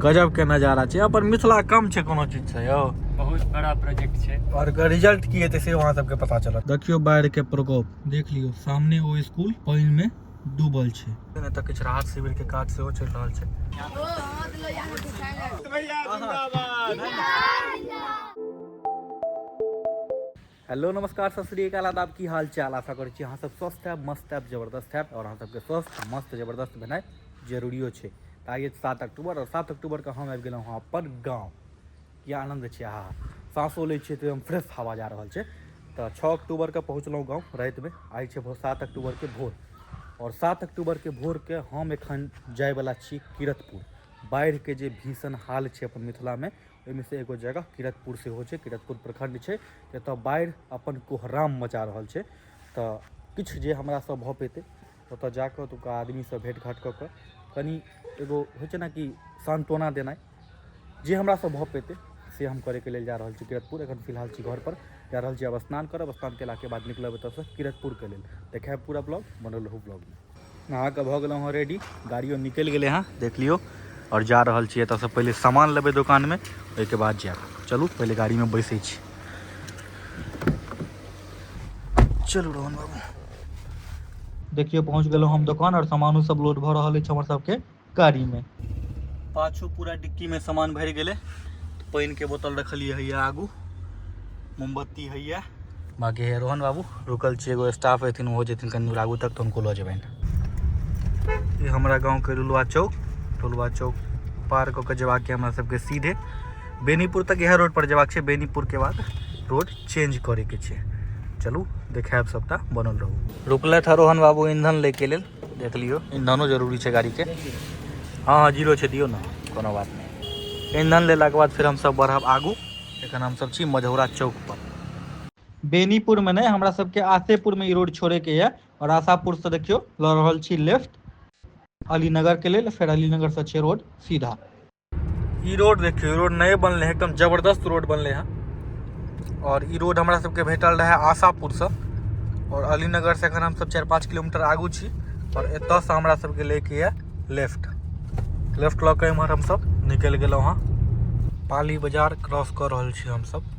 गजब के नजारा छै अपन मिथिला कम छै कोनो चीज से यौ बहुत बड़ा प्रोजेक्ट छै और एकर रिजल्ट की हेतै से वहां सबके पता चलत देखियो बाढ़ के प्रकोप देख लियो सामने ओ स्कूल पानी में डूबल छै एने तक किछु राहत शिविर के काज सेहो चलि रहल छै हेलो नमस्कार सत श्री अकाल आदाब की हाल चाल आशा करै छी अहाँ सब स्वस्थ हैब मस्त हैब जबरदस्त हैब और अहाँ सबके स्वस्थ मस्त जबरदस्त भेनाइ जरूरियो छै तऽ आइए सात अक्टूबर और सात अक्टूबरके हम आबि गेलहुँ हँ अपन गाँव की आनन्द छै आहा साँसो लै छियै तऽ एकदम फ्रेश हवा जा रहल छै तऽ छओ अक्टूबरके पहुँचलहुँ गाँव रातिमे आइ छै भोर सात अक्टूबरके भोर और सात अक्टूबरके भोरके हम एखन जायवला छी किरतपुर बाढ़िके जे भीषण हाल छै अपन मिथिलामे ओहिमे से एगो जगह किरतपुर सेहो छै किरतपुर प्रखंड छै एतऽ बाढ़ि अपन कोहराम मचा रहल छै तऽ किछु जे हमरासँ भऽ पेतै ओतऽ जाकऽ ओतुका आदमीसँ भेँट घाँट कऽ कऽ कनि एगो होइ छै ने कि सान्त्वना देनाइ जे हमरासँ भऽ पेतै से हम करैके लेल जा रहल छी किरतपुर एखन फिलहाल छी घरपर जा रहल छी आब स्नान करब स्नान केलाके बाद निकलब एतऽसँ किरतपुरके लेल देखायब पूरा ब्लॉग बनल रहू ब्लॉगमे नहा के भऽ गेलहुँ हँ रेडी गाड़ियो निकलि गेलै हँ देख लियौ आओर जा रहल छी एतऽसँ पहिले सामान लेबै दोकानमे ओहिके बाद जायब चलू पहिले गाड़ीमे बैसै छी चलू रोहन बाबू देखियौ पहुँच गेलहुँ हम दोकान आओर सामानो सब लोड भऽ रहल अछि हमर सबके गाड़ी में पाछू पूरा डिक्की में सामान भर गए पानी के बोतल रखलिए है आगू मोमबत्ती है बाकी है रोहन बाबू रुकल छे एगो स्टाफ हथिन वो जथिन कनी आगू तक तो उनको लो जबन ये हमारा गाँव के लुलुआ चौक लुलुआ चौक पार कऽ के जबाक के हमरा सबके सीधे बेनीपुर तक यह रोड पर जबाक छे बेनीपुर के बाद रोड चेंज करे के छे चलू देखायब सबटा बनल रहू रुकलथि हँ रोहन बाबू ईंधन लैके लेल देख लियौ इंधनो जरूरी छै गाड़ीके हँ हँ जीरो छै दियौ ने कोनो बात नहि इंधन लेलाके बाद फेर हमसभ बढ़ब आगू एखन हमसभ छी मझौरा चौकपर बेनीपुरमे नहि हमरा सबके आसेपुरमे ई रोड छोड़ेके यऽ आओर आशापुरसँ देखियौ लऽ रहल छी लेफ्ट अलीनगरके लेल फेर अलीनगरसँ छै रोड सीधा ई रोड देखियौ रोड नए बनलै हँ एकदम जबरदस्त रोड बनलै हँ आओर ई रोड हमरा सबके भेटल रहै आशापुरसँ आओर अलीनगरसँ एखन हमसब चारि पाँच किलोमीटर आगू छी आओर एतऽसँ हमरा सबके लैके यऽ लेफ्ट लेफ्ट लऽ कऽ एमहर हमसब निकलि गेलहुँ हँ पाली बजार क्रॉस कऽ रहल छी हमसब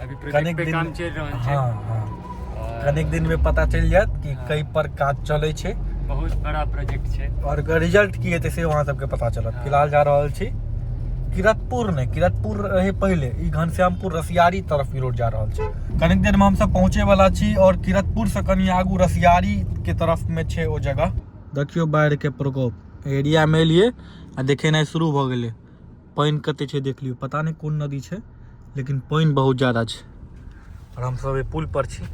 अभी कनेक प्रोजेक्ट पे दिन- काम चलि रहल छै हाँ हाँ और कनेक दिन में पता चल जायत कि हाँ। कई पर काज चले छै बहुत बड़ा प्रोजेक्ट छै और एकर रिजल्ट की हेतै से वहाँ सबके पता चलत हाँ। फिलहाल जा रहल छी किरतपुर ने किरतपुर रहे पहले ई घनश्यामपुर रसियारी तरफ ई रोड जा रहल छै कनेक देर में हम सब पहुँचे वाला छी और किरतपुर से कनी आगू रसियारी के तरफ में छै ओ जगह देखियो बाढ़ के प्रकोप एरिया में एलिए आ देखेनाइ शुरू भऽ गेलै पानि कते छै देख लियौ पता नहि कोन नदी छै लेकिन पानि बहुत ज्यादा छै आओर हमसभ पुल पर छी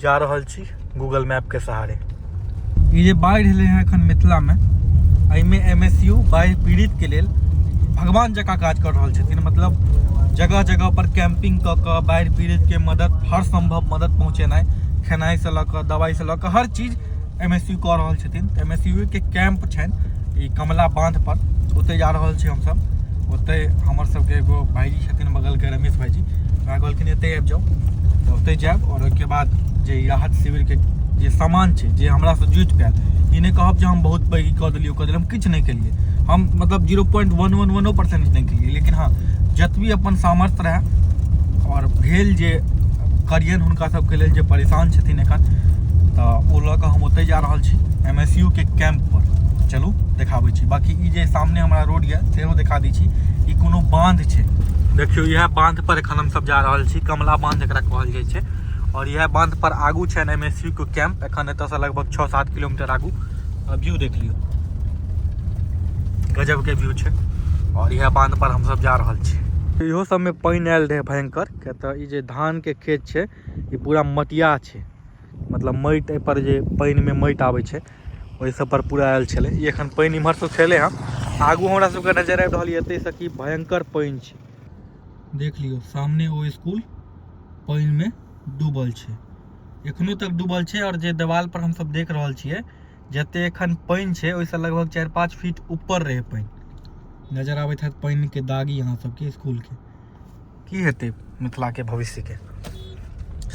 जा रहल छी गूगल मैप के सहारे ई जे बाढ़ि एलै हँ एखन मिथिलामे एहिमे एम एस यू बाढ़ि पीड़ितके लेल भगवान जकाँ काज कर रहल छथिन मतलब जगह जगह पर कैंपिंग कऽ कऽ बाढ़ि पीड़ितके मदद हर संभव मदद पहुँचेनाइ खेनाइसँ लऽ कऽ दवाइसँ लऽ कऽ हर चीज एम एस यू कऽ रहल छथिन तऽ एम एस यू के कैम्प छनि ई कमला बाँधपर ओतय जा रहल छी हमसभ ओतय हमर सभके एगो भाइजी छथिन बगलके रमेश भाइजी हमरा कहलखिन एतय आबि जाउ तऽ ओतय जायब आओर ओहिके बाद जे ई राहत शिविरके जे सामान छै जे हमरासँ जुटि पायल ई नहि कहब जे हम बहुत पैघ ई कऽ देलियै ओ कऽ देलियै हम किछु नहि केलिए हम मतलब जीरो पॉइंट वन वन वनो परसेंट नहि केलिए लेकिन हँ जतबी अपन सामर्थ्य रहए आओर भेल जे करियनि हुनका सबके लेल जे परेशान छथिन एखन तऽ ओ लऽ कऽ हम ओतहि जा रहल छी एम एस यू के कैम्प पर चलू देखाबै छी बाकी ई जे सामने हमरा रोड यऽ सेहो देखा दै छी ई कोनो बाँध छै देखियौ इएह बाँध पर एखन हमसब जा रहल छी कमला बाँध एकरा कहल जाइ छै आओर इएह बाँध पर आगू छनि एम एस यू के कैम्प एखन एतऽसँ लगभग छओ सात किलोमीटर आगू आ व्यू देख लियौ गजबके व्यू छै आओर इएह बान्धपर हमसभ जा रहल छी इहो सबमे पानि आयल रहै भयंकर किया तऽ ई जे धानके खेत छै ई पूरा मटिया छै मतलब माटि एहिपर जे पानिमे माटि आबै छै ओहि सब पर पूरा आयल छलै ई एखन पानि इम्हर सुखेलै हँ आगू हमरा सबके नजर आबि रहल यऽ एतयसँ कि भयंकर पानि छै देख लियौ सामने ओ स्कूल पानिमे डूबल छै एखनो तक डूबल छै और जे देवाल पर हम सब देख रहल छियै जते एखन पानी छै ओहि से लगभग चार पाँच फीट ऊपर रहे पानी नजर आबैत है पानी के दागी अहाँ सबके स्कूल के की हेतै मिथिला के भविष्य के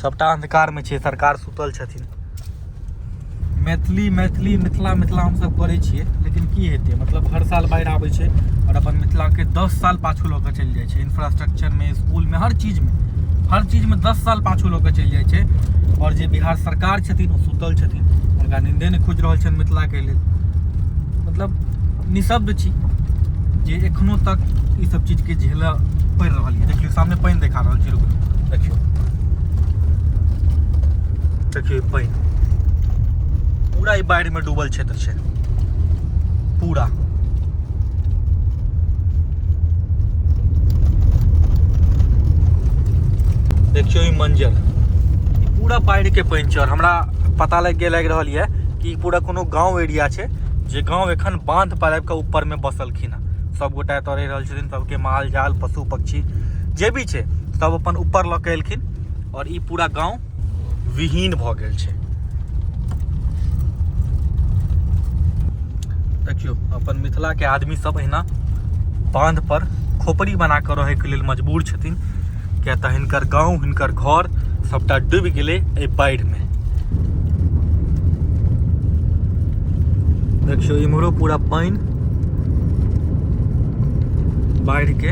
सबटा अंधकार में छै सरकार सुतल छथिन मैथिली मैथिली मिथिला मिथिला हमसभ करै छियै लेकिन की हेतै मतलब हर साल बाढ़ि आबै छै आओर अपन मिथिलाके दस साल पाछू लऽ कऽ चलि जाइ छै इंफ्रास्ट्रक्चरमे इसकुलमे हर चीजमे हर चीजमे दस साल पाछू लऽ कऽ चलि जाइ छै आओर जे बिहार सरकार छथिन ओ सुतल छथिन हुनका निन्दे नहि खोजि रहल छनि मिथिलाके लेल मतलब निशब्द छी जे एखनो तक ई सब चीजके झेलऽ पड़ि रहल यऽ देखियौ सामने पानि देखा रहल छै रुकू देखियौ देखियौ पानि पूरा ई बाढ़िमे डूबल क्षेत्र छै पूरा देखियौ ई मंजर पूरा बाढ़िके पानि छै आओर हमरा पता लागि गेल लागि रहल यऽ कि पूरा कोनो गाँव एरिया छै जे गाँव एखन बाँध पर आबि कऽ ऊपरमे बसलखिन हँ सभगोटा एतऽ रहि रहल छथिन सभके माल जाल पशु पक्षी जे भी छै सभ अपन ऊपर लऽ कऽ एलखिन आओर ई पूरा गाँव विहीन भऽ गेल छै देखियौ अपन मिथिलाके आदमी सब एहिना बाँध पर खोपड़ी बना कऽ रहैके लेल मजबूर छथिन किया तऽ हिनकर गाँव हिनकर घर सबटा डूबि गेलै एहि बाढ़िमे देखियौ इम्हरो पूरा पानि बाढ़िके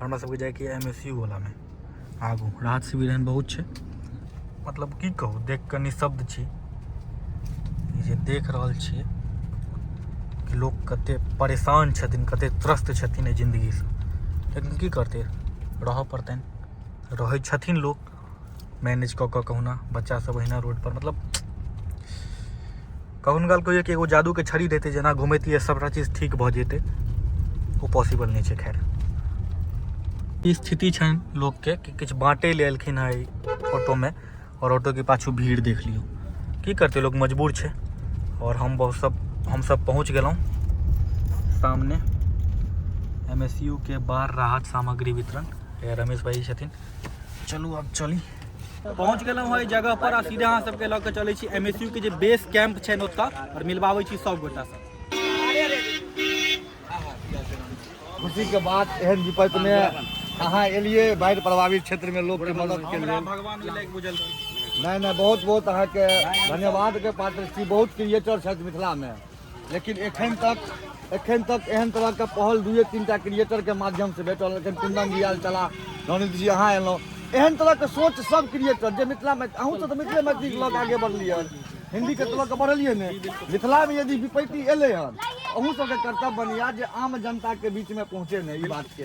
हमरा सबके जाइके एम एस यू वलामे आगू राहत शिविर एहन बहुत छै मतलब की कहू देख कऽ निशब्द छी जे देख रहल छियै कि लोक कते परेशान छथिन कते त्रस्त छथिन एहि जिन्दगीसँ लेकिन की करतै रहऽ पड़तनि रहै छथिन लोक मैनेज कऽ कऽ कहुना बच्चासभ ओहिना रोडपर मतलब कखनो काल कहियो कि एगो जादूके छड़ी देतै जेना घुमैतियै सभटा चीज ठीक भऽ जेतै ओ पॉसिबल नहि छै खैर ई स्थिति छनि लोकके कि किछु बाँटै लए एलखिन हँ एहि ऑटोमे आओर ऑटोके पाछू भीड़ देख लियौ की करतै लोक मजबूर छै आओर हम बहुत सब हमसभ पहुँच गेलहुँ सामने एम एस यू के बार राहत सामग्री वितरण ए, रमेश भाई छथिन चलू अब चली पहुँच गेलहुँ हँ एहि जगह पर आ सीधा अहाँ सबके लऽ कऽ चलै छी एम एस यू के जे बेस कैंप छनि ओतऽ आओर मिलबाबै छी सब गोटा से खुशी के बात एहन विपत्ति में अहाँ एलिए बाढ़ि प्रभावित क्षेत्र में लोग के मदद के हमरा लिए भगवान ओहि लायक बुझल नहीं नहीं बहुत बहुत अहाँ के धन्यवाद के पात्र छी बहुत क्रिएटर छथि मिथिला में लेकिन एखन तक एखन तक एहन तरहके पहल दुए तीन टा क्रिएटरके माध्यमसँ भेटल एखन कुन्दन जी आयल छलाह नवनीत जी अहाँ एलहुँ एहन तरहके सोच सब क्रिएटर जे मिथिलामे अहूँ तऽ मिथिले मैथिलीके लऽ कऽ आगे बढ़लियै हन हिन्दीके तऽ लऽ कऽ बढ़लियै ने मिथिलामे यदि विपत्ति एलै हन अहूँ सबके कर्तव्य बनैया जे आम जनताके बीचमे पहुँचे ने ई बातके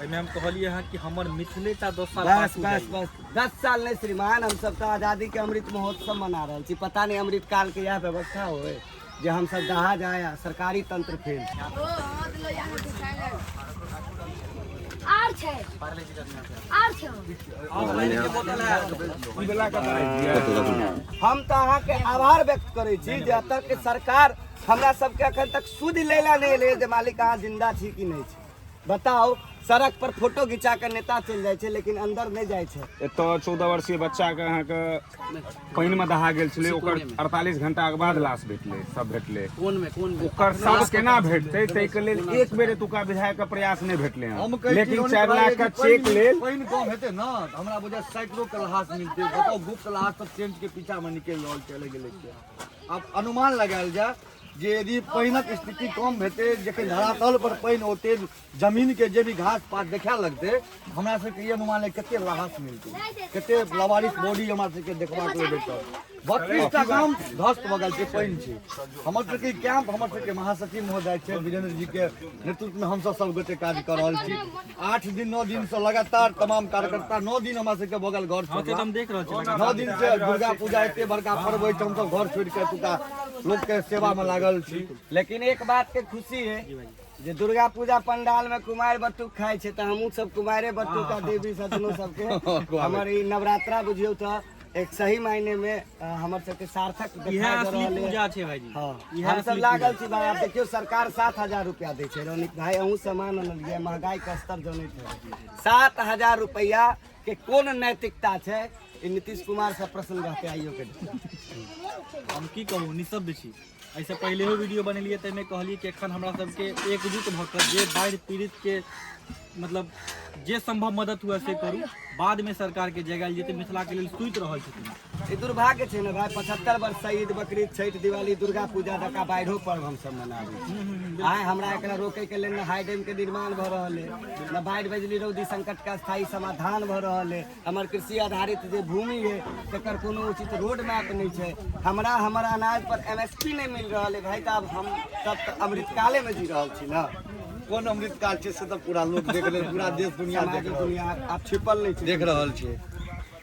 एहिमे हम कहलियै हँ कि हमर मिथिले टा दस साल बस पाछू बस जाइए। बस दस साल नहीं श्रीमान हम सब तो आजादी के अमृत महोत्सव मना रहे छी पता नहीं अमृत काल के यह व्यवस्था होए जे हम सब दहा जाए आ सरकारी तंत्र फेल आर छै आर छै हम तो अहाँ के आभार व्यक्त करे छी जे एतऽ के सरकार हमरा सबके अखन तक सुध लेला नहीं ले जे मालिक अहाँ जिंदा छी कि नहीं छी बताओ सड़क पर फोटो घिचा के नेता चल जाए छे लेकिन अंदर नहीं जाए छे एत चौदह वर्षीय बच्चा के अहाँ के पानि में दहा गेल छे ओकर अड़तालीस घंटा के बाद लाश भेटले सब भेटले कोन में कोन में ओकर सब केना भेटते तै के लेल एक बेर एतुका विधायक के प्रयास नहीं भेटले हैं लेकिन चार लाख का चेक लेल पानि कम हेते ना हमरा बुझा सैकड़ो के लहास मिलते बताओ गुप्त लहास सब चेंज के पीछा में निकल रहल चले गेले अब अनुमान लगायल जाए जे यदि पानिक स्थिति कम हेतै जखन धरातल पर पानि औतै जमीन के जे भी घास पात देखा लगतै हमरा सबके ई अनुमान है कते राहत मिलतै कते लवारिस बॉडी हमरा सबके देखबा के भेटत बत्तीसटा गाम ध्वस्त भऽ गेल छै पानि छै हमर सबके कैंप हमर सबके महासचिव महोदय छै वीरेंद्र जी के नेतृत्व में हमसब सब गोटे काज कऽ रहल छी आठ दिन नौ दिन से लगातार तमाम कार्यकर्ता नौ दिन हमरा सबके भऽ गेल घर छोड़ला। हम देख रहल छी नौ दिन से दुर्गा पूजा एते बड़का पर्व होइ छै हमसब घर छोड़ि कऽ एतुका लोग के सेवा में लागल छी लेकिन एक बात के खुशी है जे दुर्गा पूजा पंडाल में कुमार बटुक खाए छे त हमहू सब कुमारे बटुक का देवी सजनो सब के हमर ई नवरात्रा बुझियो त एक सही मायने में अ, हमर सब के सार्थक इहे दिखाई दे असली रहल है। पूजा छै भाईजी हाँ, इहे हम सब असली लागल छी भाई आप देखियो सरकार सात हजार रुपया दे छै रौनिक भाई अहूँ सामान अनलियै महंगाई के स्तर जनै छै सात हजार रुपया के कोन नैतिकता छै ई नीतीश कुमार से प्रश्न रहते आइयो के हम की कहू निशब्द छी एहिसँ पहिलेहो वीडियो बनेलिए ताहिमे कहलिए कि एखन हमरा सबके एकजुट भऽ कऽ जे बाढ़ि पीड़ितके मतलब जे संभव मदद हुए से करू बादमे सरकारके जगाएल जेतै मिथिलाके लेल सुति रहल छथिन ई दुर्भाग्य छै ने भाय पचहत्तर वर्ष से ईद बकरीद छठि दिवाली दुर्गा पूजा तक बाढ़ियो पर्व हमसभ मनाबी आइ हमरा एकरा रोके के लेल ने हाई डैम के निर्माण भऽ रहल है ने बाढ़ि बिजली रौदी संकट के स्थायी समाधान भऽ रहल है हमर कृषि आधारित जे भूमि है तकर कोनो उचित रोड मैप नहि छै हमरा हमर अनाज पर एम एस पी नहि मिल रहल है भाय तऽ आब हम सब तऽ अमृतकाले मे जी रहल छी ने कोन अमृत काल छै से तऽ पूरा लोक देख रहल पूरा देश दुनिया देख सामाजिक रहल दुनिया आब छिपल नहि छै देख रहल छै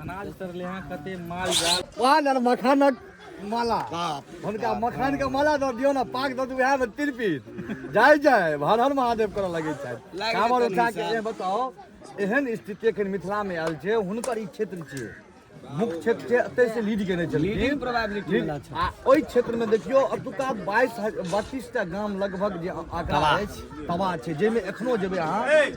अनाज तरले हां कते माल जाल पान और मखानक माला हुनका मखान के माला दऽ दियौ ने पाक दऽ दियौ वएह में तिरपित जाय जाय हर हर महादेव करऽ लगै छै कामर उठा के ये बताओ एहन स्थिति एखन मिथिला में आयल छै हुनकर ई क्षेत्र छियै मुख्य क्षेत्र छै एतय से लीड केने छलखिन लीड- आ ओहि क्षेत्र में देखियौ अतुका बाईस बत्तीस टा गाम लगभग जे आंकड़ा अछि तबाह छै जाहिमे एखनो जेबै अहाँ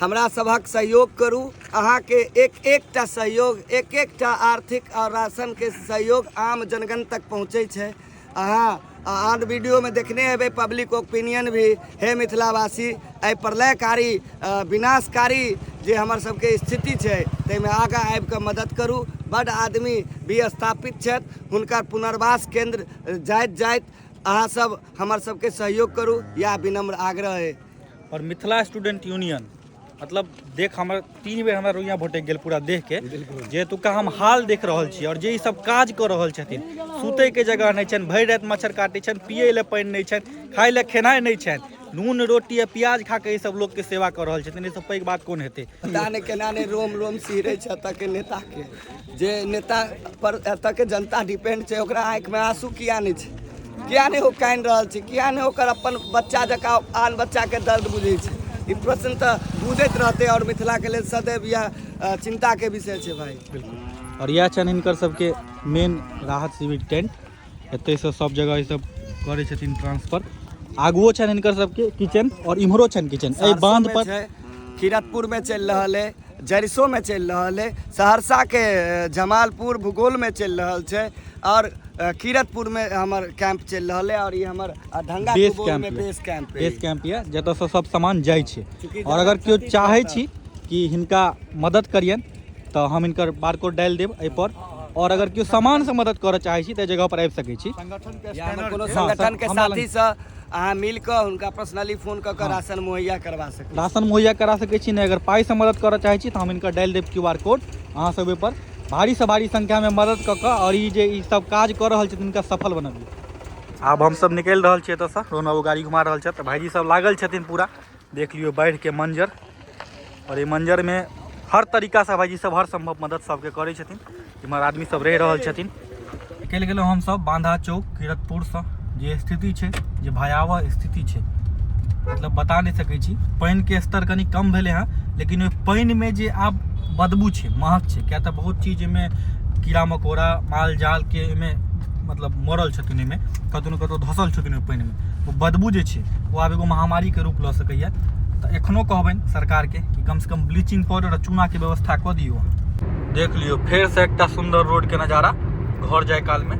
हमरा सभक सहयोग करू अहाँके एक एकटा सहयोग एक एकटा आर्थिक आ राशनके सहयोग आम जनगण तक पहुँचै छै अहाँ आ आन वीडियोमे देखने हेबै पब्लिक ओपिनियन भी हे मिथिलावासी एहि प्रलयकारी अ, विनाशकारी जे हमर सबके स्थिति छै ताहिमे आगाँ आबि कऽ मदद करू बड्ड आदमी भी स्थापित छथि हुनकर पुनर्वास केंद्र जाइत जाइत अहाँ सब हमर सबके सहयोग करू इएह विनम्र आग्रह अइ और मिथिला स्टूडेंट यूनियन मतलब देख हमर तीन बेर हमरा रोइया भटक गेल पूरा देख के जे एतुका हम हाल देख रहल छी और जे ई सब काज कर रहल छथिन सुते के जगह नहीं छन भरि रात मच्छर काटे छन पिए ले पानी नहीं छन खाए ले खेनाई नहीं छन नून रोटी आ प्याज खा के ई सब लोग के सेवा कर रहल छथिन ई सब पैघ बात कोन हेतै पता नहि केना नहि रोम रोम सिहरे छै एतऽ के नेता के जे नेता पर एतऽ के जनता डिपेंड छै ओकरा आँखि में आंसू किया नहीं छै किया नहीं हो कान रहल छै किया नहीं ओकर अपन बच्चा जका आन बच्चा के दर्द बुझे छै ई प्रश्न तऽ बुझैत रहते और मिथिला के लिए सदैव यह चिंता के विषय छै भाई और यह छन हिनकर सबके मेन राहत शिविर टेंट एतयसँ सब जगह ईसब करै छथिन ट्रांसफर आगुओ छनि हिनकर सबके किचन और इम्हरो छनि किचन एहि बांध पर किरतपुर में चल रहा है जरिसो में चल रहा है सहरसा के जमालपुर भूगोल में चल रहा है और किरतपुर में हमार कैंप चल रहा है और ये हमार ढंगा बेस कैंप में बेस कैंप बेस कैंप ये जतऽ सब सामान जाए और अगर क्यों चाहे छी कि हिनका मदद करियन तऽ हम इनकर बारकोड डालि देब एहिपर और अगर केओ सामान से मदद करऽ चाहै छी तऽ जगह पर आबि सकै छी कोनो संगठन के साथी से अहाँ मिल कऽ हुनका पर्सनली फोन कऽ कऽ राशन मुहैया करवा सकते राशन मुहैया करा सकै छी नहि अगर पाई से मदद करऽ चाहै छी तऽ हम इनकर डालि देब क्यू आर कोड अहाँ सब ओहिपर भारी से भारी संख्या में मदद कऽ कऽ और ई जे ई सब काज कऽ रहल छथिन हिनका सफल बनबियौ आब हमसब निकलि रहल छियै एतऽसँ रोहन बाबू गाड़ी घुमा रहल छथि भाईजी सब लागल छथिन पूरा देख लियो बाढ़ के मंजर और ये मंजर में हर तरीका से भाईजी सब हर संभव मदद सबके करे छथिन इम्हर आदमी सब रह रहल छथिन निकल गेलो हम सब बांधा चौक किरतपुर से जे स्थिति छै जे भयावह स्थिति छै मतलब बता नहीं सके छी पानि के स्तर कनी कम भेले हैं लेकिन ओहि पानि में जे आब बदबू छै महक छै क्या तो बहुत चीज में कीड़ा मकोड़ा माल जाल के में मतलब मरल छथिन ओहिमे कतहु ने कतहु धसल छथिन ओहि पानिमे ओ बदबू जे छै ओ आब एगो महामारीके रूप लऽ सकैए तऽ एखनो कहबनि सरकारके कि कमसँ कम ब्लीचिंग पाउडर आ चूनाके व्यवस्था कऽ दियौ देख लियौ फेरसँ एकटा सुन्दर रोडके नजारा घर जाय कालमे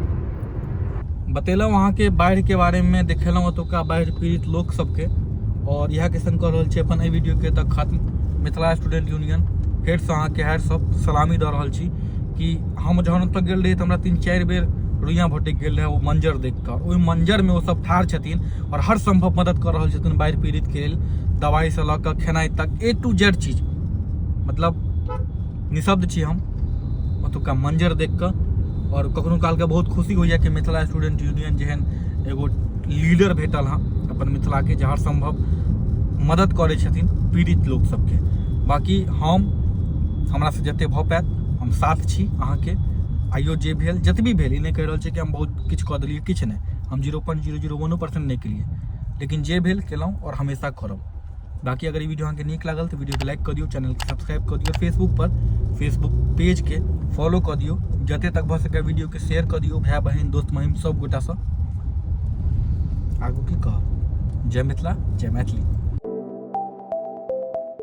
बतेलहुँ अहाँके बाढ़िके बारेमे देखेलहुँ ओतुका बाढ़ि पीड़ित लोक सबके आओर इएहके सङ्ग कऽ रहल छी अपन एहि वीडियोके तऽ खत्म मिथिला स्टूडेंट यूनियन फेरसँ अहाँके हायर सब सलामी दऽ रहल छी कि हम जहन ओतऽ गेल रही तऽ हमरा तीन चारि बेर रुइयाँ भटकि गेल रहै ओ मंजर देखिकऽ ओहि मंजरमे ओ सब ठाढ़ छथिन आओर हर सम्भव मदद कऽ रहल छथिन बाढ़ि पीड़ितके लेल दवाइसँ लऽ कऽ खेनाइ तक ए टू जेड चीज मतलब निशब्द छी हम ओतुका मंजर देखिकऽ आओर कखनो कालके बहुत खुशी होइए कि मिथिला स्टूडेंट यूनियन जेहन एगो लीडर भेटल हँ अपन मिथिलाके जे हर सम्भव मदद करै छथिन पीड़ित लोक सबके बाकी हम हमरासँ जतेक भऽ पाएत हम साथ छी अहाँके आइयो जे भेल जतबी भेल ई नहि कहि रहल छी कि हम बहुत किछु कऽ देलियै किछु नहि हम जीरो पॉइंट जीरो जीरो वनो परसेंट नहि केलियै लेकिन जे भेल केलहुँ आओर हमेशा करब बाकी अगर ई वीडियो अहाँके नीक लागल तऽ वीडियोके लाइक कऽ दियौ चैनलके सब्सक्राइब कऽ दियौ फेसबुकपर फेसबुक पेजके फॉलो कऽ दियौ जते तक भऽ सकै वीडियोके शेयर कऽ दियौ भाय बहिन दोस्त महिम सब गोटासँ आगू की कहब जय मिथिला जय मैथिली